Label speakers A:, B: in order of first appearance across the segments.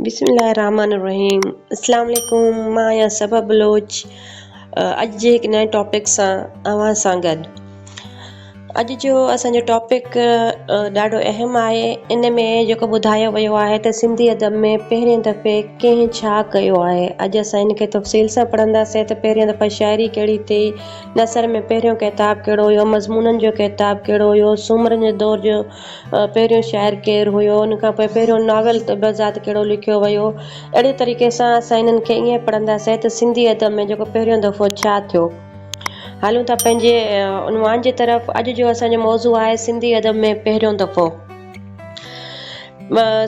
A: بسم الله الرحمٰن الرحيم اسلام عليڪم مان آهيان صبا بلوچ اڄ جي هڪ نئين ٽاپڪ سان اوهان سان گڏ اڄ جو اسان جو ٽاپڪ ڏاڍو اهم آهي ان ۾ جيڪو ٻڌايو ويو آهي ته سنڌي ادب ۾ پهرين دفعي ڪنهن ڇا ڪيو آهي اڄ اسان ان کي تفصيل سان پڙهنداسين ته پهرين دفعي شاعري ڪهڙي ٿي نثر ۾ پهريون ڪتاب ڪهڙو هيو مضمونن جو ڪتاب ڪهڙو هيو سومرن جي دور جو پهريون شاعر ڪير هيو، ان کان پوء پهريون ناول ته بذات ڪهڙو لکيو ويو. اهڙي طريقي سان اسان هنن کي ائين پڙهنداسين ته سنڌي ادب ۾ جيڪو پهريون دفعو ڇا ٿيو. هلون ٿا پنهنجي عنوان جي طرف. اڄ جو اسان جو موضوع آهي سنڌي ادب ۾ پهريون دفعو.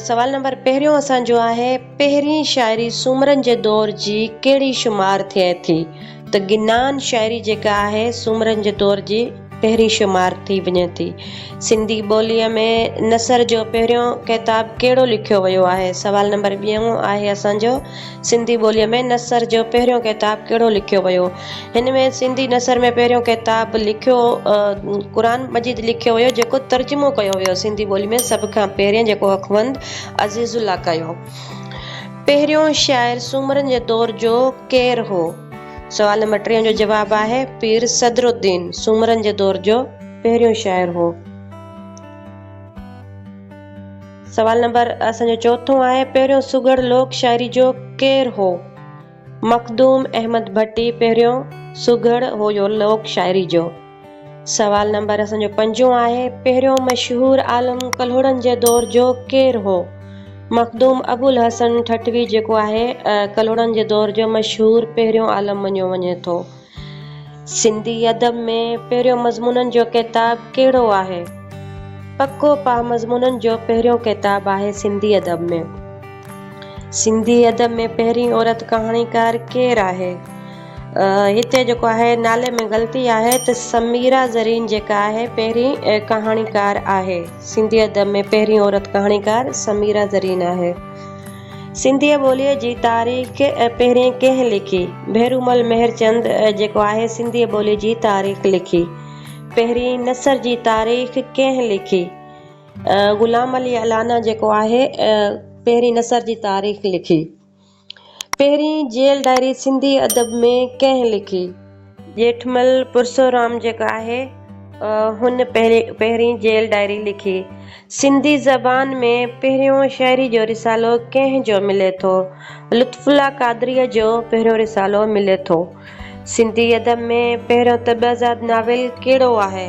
A: سوال نمبر پهريون اسان جو آهي پهرين شاعري سومرن جي دور جي ڪهڙي شمار ٿئي ٿي؟ ته گنان شاعري جيڪا آهي سومرن جي دور جي پهرين شمار ٿي وڃي ٿي. سنڌي ٻوليء ۾ نثر جو پهريون ڪتاب ڪهڙو لکيو ويو آهي؟ سوال نمبر ٻيون آهي اسان جو سنڌي ٻوليء ۾ نثر جو پهريون ڪتاب ڪهڙو لکيو ويو؟ هن ۾ سنڌي نثر ۾ پهريون ڪتاب لکيو قرآن مجيد لکيو ويو جيڪو ترجمو ڪيو ويو سنڌي ٻولي ۾ سڀ کان پهرين جيڪو اخوند عزيزالله ڪيو. پهريون شاعر سومرن جي دور جو ڪير هو؟ سوال نمبر ٽيهن جو جواب آهي پير صدر الدين سومرن جي دور جو پهريون شاعر هو. سوال نمبر اسان جو چوٿون آهي پهريون سگهڙ لوڪ شاعري جو ڪير هو؟ مخدوم احمد ڀٽي پهريون سگهڙ هو جو لوڪ شاعري جو. سوال نمبر اسان جو پنجون آهي، پهريون مشهور عالم ڪلهوڙن جي دور جو ڪير هو؟ مخدوم ابوالحسن ٺٽوي جيڪو آهي ڪلهوڙن جي دور جو مشهور پهريون عالم مڃيو وڃي ٿو. سنڌي ادب ۾ پهريون مضمونن جو ڪتاب ڪهڙو آهي؟ پڪو پاهه مضمونن جو پهريون ڪتاب آهي سنڌي ادب ۾. سنڌي ادب ۾ پهرين عورت ڪهاڻيڪار ڪير آهي؟ هتي جيڪو آهي نالي ۾ غلطي آهي ته سميرا زرين جيڪا آهي پهرين ڪهاڻيڪار آهي. سنڌي ادب ۾ پهرين عورت ڪهاڻيڪار سميرا زرين آهي. سنڌي ٻوليء جي تاريخ پهرين ڪنهن لکي؟ ڀيرومل مهرچند جيڪو آهي سنڌي ٻوليء جي تاريخ لکي. پهرين نثر جي تاريخ ڪنهن لکي؟ غلام علي الانا جيڪو آهي پهرين نثر جي تاريخ لکي. پهرين جيل ڊائري سنڌي ادب ۾ ڪنهن لکي؟ ڄيٺمل پرسورام جيڪو آهي هن پهرين جيل ڊائري لکي. سنڌي زبان ۾ پهريون شعري جو رسالو ڪنهن جو ملي ٿو؟ لطف الله قادريء جو پهريون رسالو ملي ٿو. سنڌي ادب ۾ پهريون طبعزاد ناول ڪهڙو آهي؟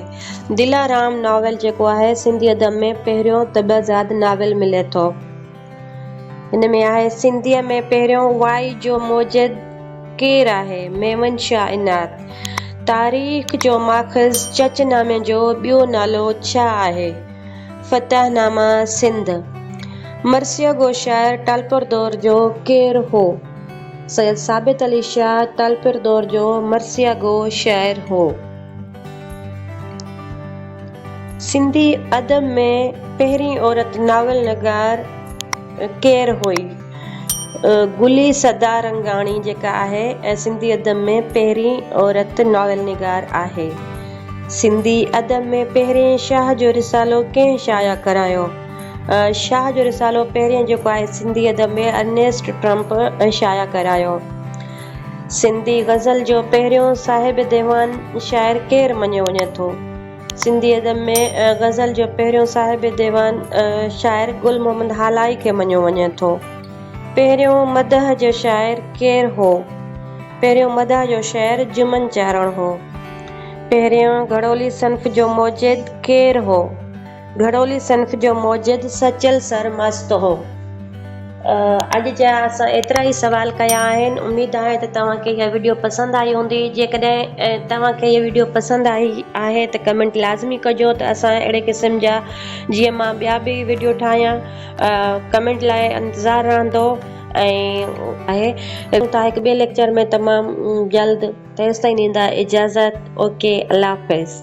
A: دلارام ناول جيڪو آهي سنڌي ادب ۾ پهريون طبعزاد ناول ملي ٿو. ان ۾ آهي، سنڌيء ۾ پهريون وائي جو موجد ڪير آهي؟ ميمن شاهه عنايت. تاريخ جو ماخذ چچ نامي جو ٻيو نالو ڇا آهي؟ فتح نامه سنڌ. مرثيه گو شاعر ٽالپردور جو ڪير هو؟ سيد ثابت علي شاهه ٽالپر دور جو مرثيه گو شاعر هو. سنڌي ادب ۾ پهرين عورت ناول نگار ڪير هئي؟ گلي سدارنگاڻي جيڪا آهي ۽ سنڌي ادب ۾ پهرين عورت ناول نگار آهي. سنڌي ادب ۾ پهرين شاهه جو رسالو ڪنهن شايع ڪرايو؟ شاهه جو رسالو پهريون جيڪو آهي سنڌي ادب ۾ ارنيسٽ ٽرمپ شايع ڪرايو. سنڌي غزل جو پهريون صاحب ديوان شاعر ڪير مڃيو وڃي ٿو؟ سنڌي ادب ۾ غزل جو پهريون صاحب ديوان شاعر گل محمد هالائي کي مڃيو وڃي ٿو. پهريون مدح جو شاعر ڪير هو؟ پهريون مدح جو شاعر جمن چارڻ هو. پهريون گهڙولي صنف جو موجد ڪير هو؟ گهڙولي صنف جو موجد سچل سر مست هو. اڄ جا اسان ايترا ئي سوال ڪيا آهن. اميد آهي ته توهان کي اها وڊيو پسند آئي هوندي. جيڪڏهن توهان کي اها وڊيو پسند آئي آهي ته ڪمينٽ لازمي ڪجو ته اسان اهڙي قسم جا جيئن مان ٻيا به وڊيو ٺاهيان. ڪمينٽ لاء انتظار رهندو آهي. ملون ٿا هڪ ٻئي ليڪچر ۾ تمام جلد. تيستائين ڏيندا اجازت. اوڪي الله حافظ.